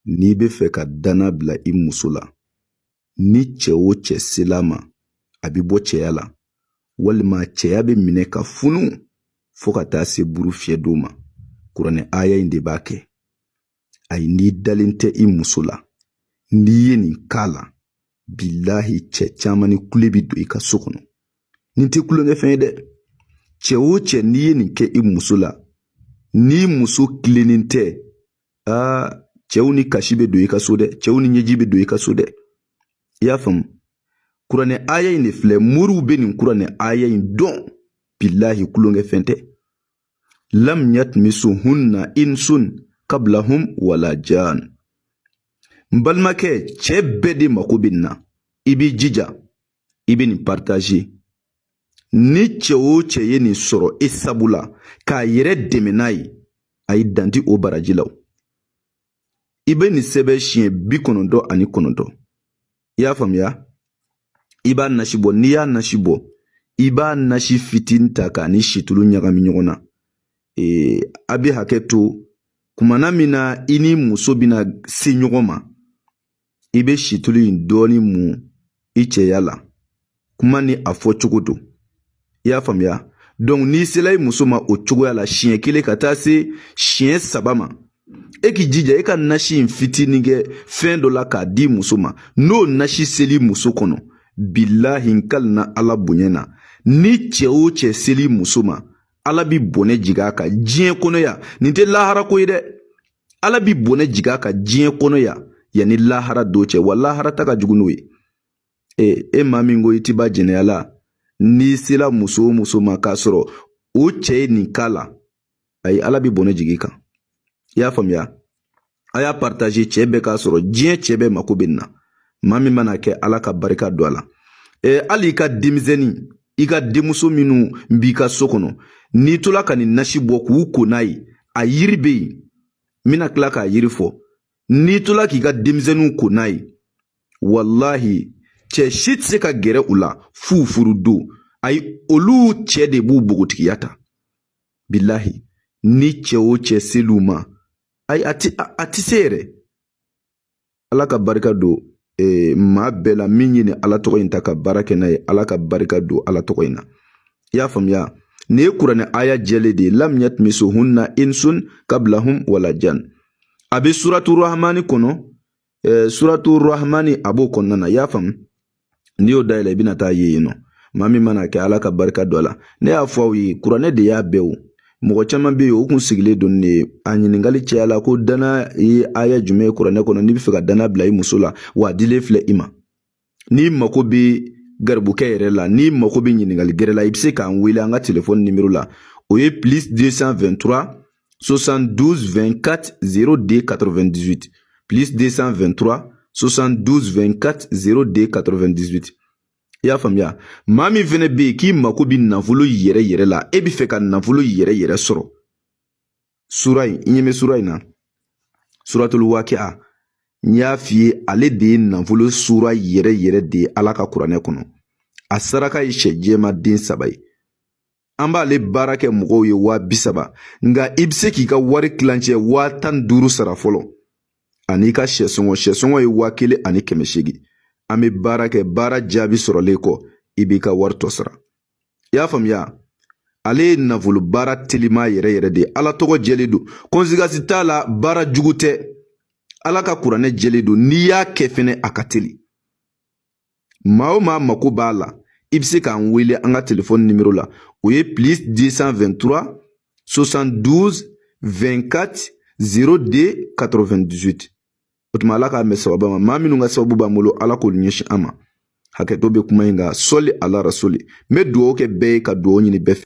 n'i bɛ fɛ ka danna bila i muso la ni cɛ o cɛ sel'a ma a bɛ bɔ cɛya la walima cɛya bɛ minɛ ka funu fo ka taa se buru fiyɛ don ma kuranɛ aya in de b'a kɛ ayi n'i dalen tɛ i muso la n'i ye nin k'a la bilahi cɛ caman ni kule bi don i ka so kɔnɔ nin tɛ kulonkɛfɛn ye dɛ cɛ o cɛ n'i ye nin kɛ i muso la n'i muso tilennen tɛ aa cɛw ni kasi bɛ don i ka so dɛ cɛw ni ɲɛji bɛ don i ka so dɛ i y'a faamu kuranɛ aya in de filɛ moriw bɛ nin kuranɛ aya in dɔn bilahi kulonkɛ fɛn tɛ lam yatmisuhunna insun kablahum wala jan n balimakɛ cɛɛ bɛɛ de mako bɛ nin na i b'i jija i bɛ nin partager ni cɛ o cɛ ye nin sɔrɔ e sabu la k'a yɛrɛ dɛmɛ n'a ye ayi dan ti o baraji la i bɛ nin sɛbɛn siɲɛ bi kɔnɔntɔn ani kɔnɔntɔn i y'a faamuya i b'a nasi bɔ n'i y'a nasi bɔ i b'a nasi fitinin ta k'a ni situlu ɲagami ɲɔgɔn na ee a bɛ hakɛ to kumana min na i ni muso bɛna se ɲɔgɔn ma i bɛ situlu in dɔɔni mun i cɛya la kuma ni a fɔ cogo don i y'a faamuya donc n'i sela i muso ma o cogoya la siɲɛ kelen ka taa se siɲɛ saba ma e k'i jija e ka nasi in fitinin kɛ fɛn dɔ la k'a di muso ma n'o nasi seli muso kɔnɔ bilahi n kalina ala bonya na ni cɛ o cɛ seli muso ma ala bi bɔnɛ jigin a kan diɲɛ kɔnɔ yan nin tɛ laharako ye dɛ ala bi bɔnɛ jigin a kan diɲɛ kɔnɔ yan yanni lahara don cɛ wa lahara ta ka jugu n'o ye e, e maa min ko i ti ban jɛnɛya la n'i sela muso o muso ma k'a sɔrɔ o cɛ ye nin k'a la ayi ala bi bɔnɛ jig'i kan i y'a faamuya a y'a partager cɛɛ bɛɛ k'a sɔrɔ diɲɛ cɛɛ bɛɛ mako bɛ nin na maa min mana kɛ ala ka barika don a la e, hali i ka denmisɛnnin i ka denmuso minnu b'i ka so kɔnɔ n'i tola ka nin nasi bɔ k'u ko n'a ye a yiri bɛ yen n bɛna tila k'a yiri fɔ n'i tola k'i ka denmisɛnninw ko n'a ye walahi cɛ si tɛ se ka gɛrɛ u la f'u furu don ayi olu cɛ de b'u bogotigiya ta bilahi ni cɛ o cɛ sel'u ma ayi a ti a ti se yɛrɛ ala ka barika don ee, maa bɛɛ la min ye nin ala tɔgɔ in ta ka baara kɛ n'a ye ala ka barika don ala tɔgɔ in na i y'a faamuya nin ye kuranɛ aya jɛlen de ye lam yatmisohunna insun kablahum wala jan a bɛ suratu rahmani kɔnɔ ee, suratu rahmani a b'o kɔnɔna na i y'a faamu n'i y'o dayɛlɛ i bɛna taa ye yen nɔ maa min mana a kɛ ala ka barika don a la ne y'a fɔ aw ye kuranɛ de y'a bɛɛ wo mɔgɔ caman bɛ yen u kun sigilen don ne a ɲininkali cɛya la ko dana ye aya jumɛn ye kuranɛ kɔnɔ n'i bɛ fɛ ka dana bila i muso la wa a dilen filɛ i ma n'i mako bɛ garibukɛ yɛrɛ la n'i mako bɛ ɲininkali gɛrɛ la i bɛ se k'an wele an ka telefɔni nimero la o ye plus 223 72 24 02 98 plus 223 72 24 02 98 i y'a faamuya maa min fɛnɛ bɛ yen k'i mako bɛ nafolo yɛrɛ yɛrɛ la e bɛ fɛ ka nafolo yɛrɛ yɛrɛ sɔrɔ sura in i ɲɛ bɛ sura in na suratul wakiya n y'a f'i ye ale de ye nafolo sura yɛrɛ yɛrɛ de ye ala ka kuranɛ kɔnɔ a saraka ye sɛ jɛma den saba ye an b'ale baara kɛ mɔgɔw ye waa bi saba nka i bɛ se k'i ka wari kilancɛ waa tan ni duuru sara fɔlɔ an'i ka sɛ sɔngɔ sɛ sɔngɔ ye waa kelen ani kɛmɛ seegin an bɛ baara kɛ baara jaabi sɔrɔlen kɔ i b'i ka wari tɔ sara i y'a faamuya ale ye nafolo baara telima yɛrɛ yɛrɛ de ye ala tɔgɔ jɛlen don conséquence t'a la baara jugu tɛ ala ka kuranɛ jɛlen don n'i y'a kɛ fɛnɛ a ka teli maa o maa mako b'a la i bɛ se k'an wele an ka telefɔni nimero la o ye plus 223 72 24 02 98 o tuma ala k'an bɛn sababa ma maa minnu ka sababu b'an bolo ala k'olu ɲɛsin an ma hakɛto bɛ kuma in kan sɔli ala rasuli n bɛ dugawu kɛ bɛɛ ye ka dugawu ɲini bɛɛ fɛ